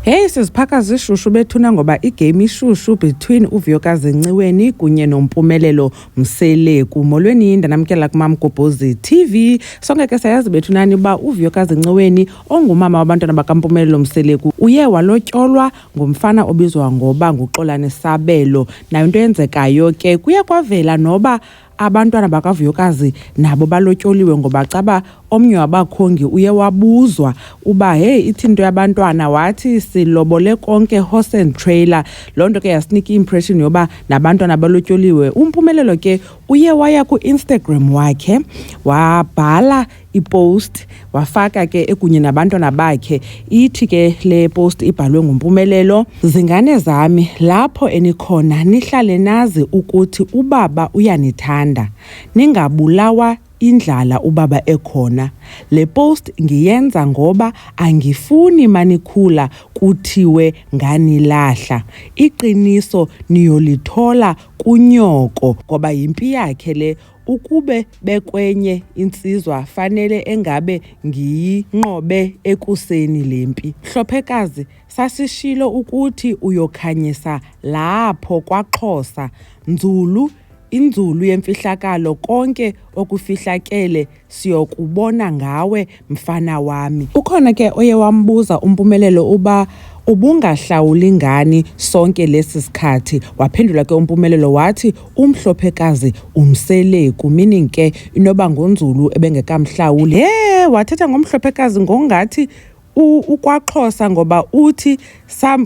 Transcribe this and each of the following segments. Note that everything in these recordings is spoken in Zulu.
Hey siziphaka zishushu bethuna ngoba igame ishushu between uVyokazi Nciweni kunye noMpumelelo Mseleku. Molweni yinda namkela kuMamgobhozi TV. Sonke ke sayazi bethunani uba uVyokazi Nciweni ongumama wabantwana bakaMpumelelo Mseleku uye walotyolwa ngomfana obizwa ngoba nguXolani Sabelo. Nayo into eyenzekayo ke kuye kwavela noba Abantwana bakaVuyokazi nabo balotyoliwe ngoba caba omnye wabakhongi uye wabuzwa uba hey ithini into yabantwana wathi silobole konke horse and trailer loo nto ke yasinika i-impression yoba nabantwana balotyoliwe umpumelelo ke uye waya ku-instagram wakhe wabhala ipost wafaka ke ekunye nabantwana bakhe ithi ke le post ibhalwe ngumpumelelo zingane zami lapho enikhona nihlale nazi ukuthi ubaba uyanithanda ningabulawa indlala ubaba ekhona le post ngiyenza ngoba angifuni manikhula kuthiwe nganilahla iqiniso niyolithola kunyoko ngoba yimpi yakhe le Ukube bekwenye insizwa fanele engabe ngiyinqobe ekuseni lempi. Hlophekazi sasishilo ukuthi uyokhanyisa lapho kwaXhosa. Nzulu inzulu yemfihlakalo konke okufihlakele siyokubona ngawe mfana wami. Ukhona ke oye wambuza uMpumelelo uba ubungahlawuli ngani sonke lesi sikhathi waphendula ke uMpumelelo wathi umhlophekazi umseleku meaning ke inoba ngonzulu ebengekamhlawuli. He wathetha ngomhlophekazi ngongathi ukwaXhosa ngoba uthi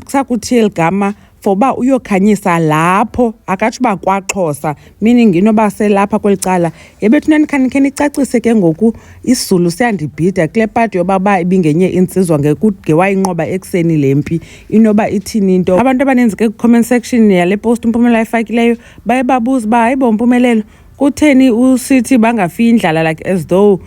sakuthile ligama for uba uyokhanyisa lapho akatsho uba kwaXhosa meaning inoba selapha kweli cala yebethu nanikhanikhe nicacise ke ngoku isizulu siyandibhida kule pati yoba uba ibingenye intsizwa ngewayinqoba ekuseni le mpi inoba ithini into abantu abaninzi ke kwi-comment section yale post umpumela ayifakileyo baye babuza uba hayi bo mpumelelo kutheni usithi bangafi indlala like as though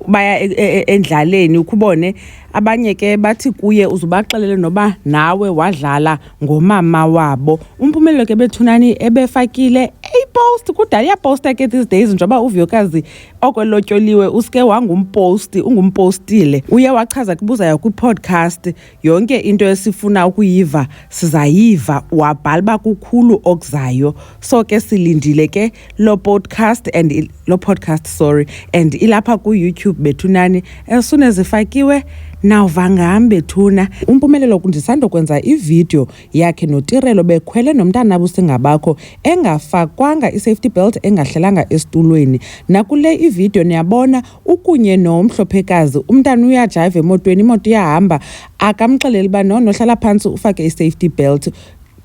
baya e, e, e, endlaleni ukubone abanye ke bathi kuye uzubaxelele noba nawe wadlala ngomama wabo umpumelelo ke bethunani ebefakile eyipost kudala iyaposta ke these days njengoba uvuyokazi oko elotyoliwe usike wangumposti ungumpostile uye wachaza kubuzayo kwipodcast yonke into esifuna ukuyiva sizayiva wabhala uba kukhulu okuzayo so ke silindile ke lo podcast and lo podcast sorry and ilapha ku-youtube bethunani as soon as ifakiwe nawuva ngam bethuna umpumelelo ndisandokwenza ividiyo yakhe notirelo bekhwele nomntana busingabakho engafakwanga i-safety belt engahlelanga esitulweni nakule ividiyo niyabona ukunye no mhlophekazi umntana uyajayiva emotweni imoto iyahamba akamxeleli uba no nohlala phantsi ufake i-safety belt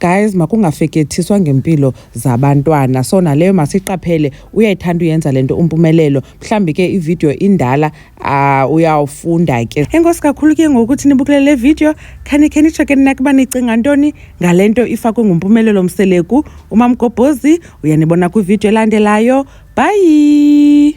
guys makungafekethiswa ngempilo zabantwana so naleyo masiqaphele uyayithanda uyenza lento umpumelelo mhlambi ke ivideo indala uh, uyawufunda ke enkosi kakhulu ke ngokuthi nibukele le video khani khe nitsho ke nina kuba nicinga ntoni ngale nto ifakwe ngumpumelelo mseleku umamgobhozi uyanibona kwivideo elandelayo bhayi